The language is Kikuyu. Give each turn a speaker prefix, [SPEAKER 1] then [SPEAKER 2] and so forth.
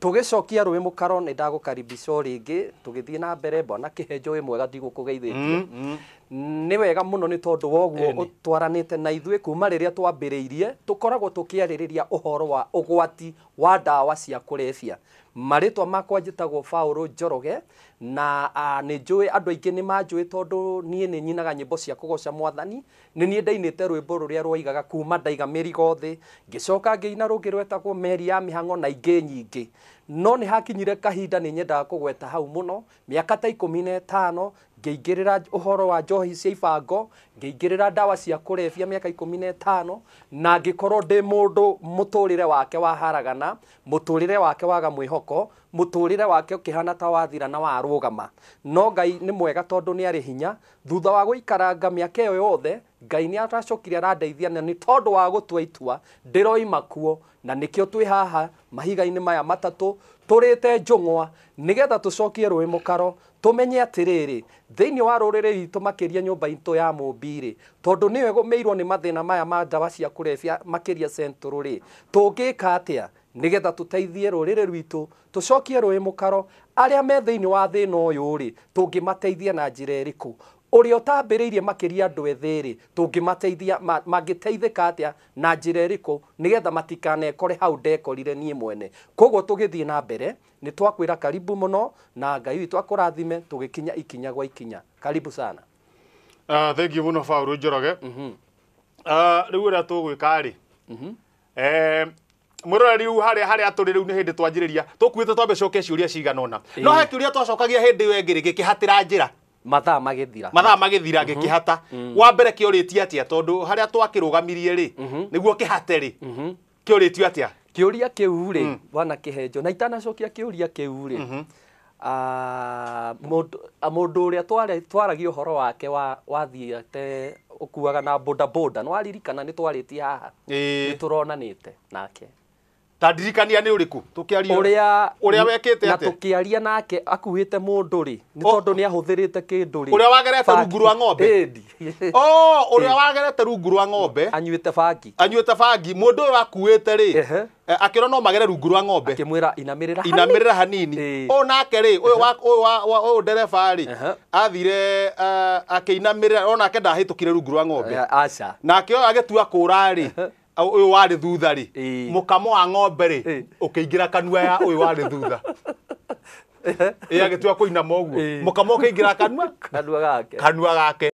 [SPEAKER 1] Tũgĩcokia rũĩ mũkaro nĩ ndagũkaribisha o rĩngĩ. Tũgĩthiĩ na mbere, bwana Kĩhenjo wĩ mwega ndigũkũgeithĩtie? Nĩ wega mũno nĩ tondũ wa ũguo Ĩni. ũtwaranĩte na ithuĩ kuma rĩrĩa twambĩrĩirie. Tũkoragwo tũkĩarĩrĩria ũhoro wa ũgwati wa ndawa cia kũrebia. Marĩtwa makwa njĩtagwo Paũlũ Njoroge, na ah, nĩ njũĩ andũ aingĩ nĩ manjũĩ tondũ niĩ nĩ nyinaga nyĩmbo cia kũgoca Mwathani, Nĩ niĩ ndainĩte rwĩmbo rũrĩa rwoigaga, Kuuma ndaiga mĩrigo thĩ, ngĩcoka ngĩina rũngĩ rwetagwo Meri ya Mĩhang'o na ingĩ nyingĩ. No nĩ hakinyire kahinda nĩ nyendaga kũgweta hau mũno, mĩaka ta ikũmi na ĩtano, ngĩingĩrĩra ũhoro wa njohi cia ibango, ngĩingĩrĩra ndawa cia kũrebia mĩaka ikũmi na ĩtano, na ngĩkorũo ndĩ mũndũ mũtũũrĩre wake waharagana, mũtũũrĩre wake waga mwĩhoko, mũtũũrĩre wake ũkĩhaana ta wathira na warũgama. No Ngai nĩ mwega tondũ nĩ arĩ hinya, Thutha wa gũikaranga mĩaka ĩyo yothe, Ngai nĩ aracokire arandeithia na nĩ tondũ wa gũtua itua ndĩroima kuo na nĩkĩo twĩ haha mahiga-inĩ maya matatũ tũrĩte njũng'wa nĩgetha tũcokie rũĩ mũkaro tũmenye atĩrĩrĩ, thĩinĩ wa rũrĩrĩ rwitũ makĩria nyũmba itũ ya Mũmbi rĩ, tondũ nĩyo ĩgũmĩirwo nĩ mathĩna maya ma ndawa cia kũrebia makĩria Central rĩ, tũngĩka atĩa nĩgetha tũteithie rũrĩrĩ rwitũ Tũcokie rũĩ mũkaro. Arĩa me thĩinĩ wa thĩna ũyũ-rĩ, tũngĩmateithia na njĩra ĩrĩkũ? Ũrĩa ũtambĩrĩirie makĩria andũ ethĩ-rĩ, tũngĩmateithia, mangĩteithĩka atĩa, na njĩra ĩrĩkũ, nĩgetha matikanekore hau ndekorire niĩ mwene? Kwoguo tũgĩthiĩ na mbere, nĩ twakwĩra karibu mũno, na Ngai witũ akũrathime, tũgĩkinya ikinya gwa ikinya. Karibu sana. Ah, thengiũ mũno Baũrũ Njoroge. Ah, rĩu ũrĩa tũgwĩka-rĩ, eh, mwirore riu haria haria turi riu ni hindi twanjiriria tukuite twambe coke ciuria cigana ona no he kiuria twacokagia hindi iyo ingiri gikihatira njira mathaa magĩthira mathaa magĩthira ngĩkĩhata wa mbere kĩorĩtie atĩa tondũ harĩa twakĩrũgamirie rĩ nĩguo kĩhate rĩ kĩorĩtio atĩa kĩũria kĩu rĩ bwana kĩhenjo na itanacokia kĩũria kĩu rĩ a mũndũ ũrĩa twaragia ũhoro wake wathiĩte ũkuaga na bodaboda, nĩ waririkana nĩ twarĩtie haha? Nĩ tũronanĩte nake. Ta ndirikania nĩ ũrĩkũ? Tũkĩaria ũrĩa ũrĩa wekĩte atĩa? Na tũkĩaria nake akuĩte mũndũ rĩ, nĩ tondũ nĩ ahũthĩrĩte kĩndũ rĩ. Ũrĩa wagerete rungu rwa ng'ombe? Ĩndi. Oh, ũrĩa wagerete rungu rwa ng'ombe. Anyuĩte bangi. Anyuĩte bangi. Mũndũ ũyũ akuĩte rĩ, Eh, akĩrwo no magere rungu rwa ng'ombe akĩmwĩra inamĩrĩra hanini." inamĩrĩra hanini Ĩĩ. ũyũ nake rĩ ũyũ wa- ũyũ wa- wa- ũyũ ndereba rĩ Aha. athire eh, akĩinamĩrĩra o nake ndahĩtũkire rungu rwa ng'ombe Eh, aca nake ũyũ agĩtua kũra rĩ ũyũ warĩ thutha rĩ Ĩĩ. mũkamo wa ng'ombe rĩ Ĩĩ. ũkĩingĩra kanua ya ũyũ warĩ thutha ĩ agĩtua kũinama ũguo Ĩĩ. mũkamo ũkĩingĩra kanua kanua gake kanua gake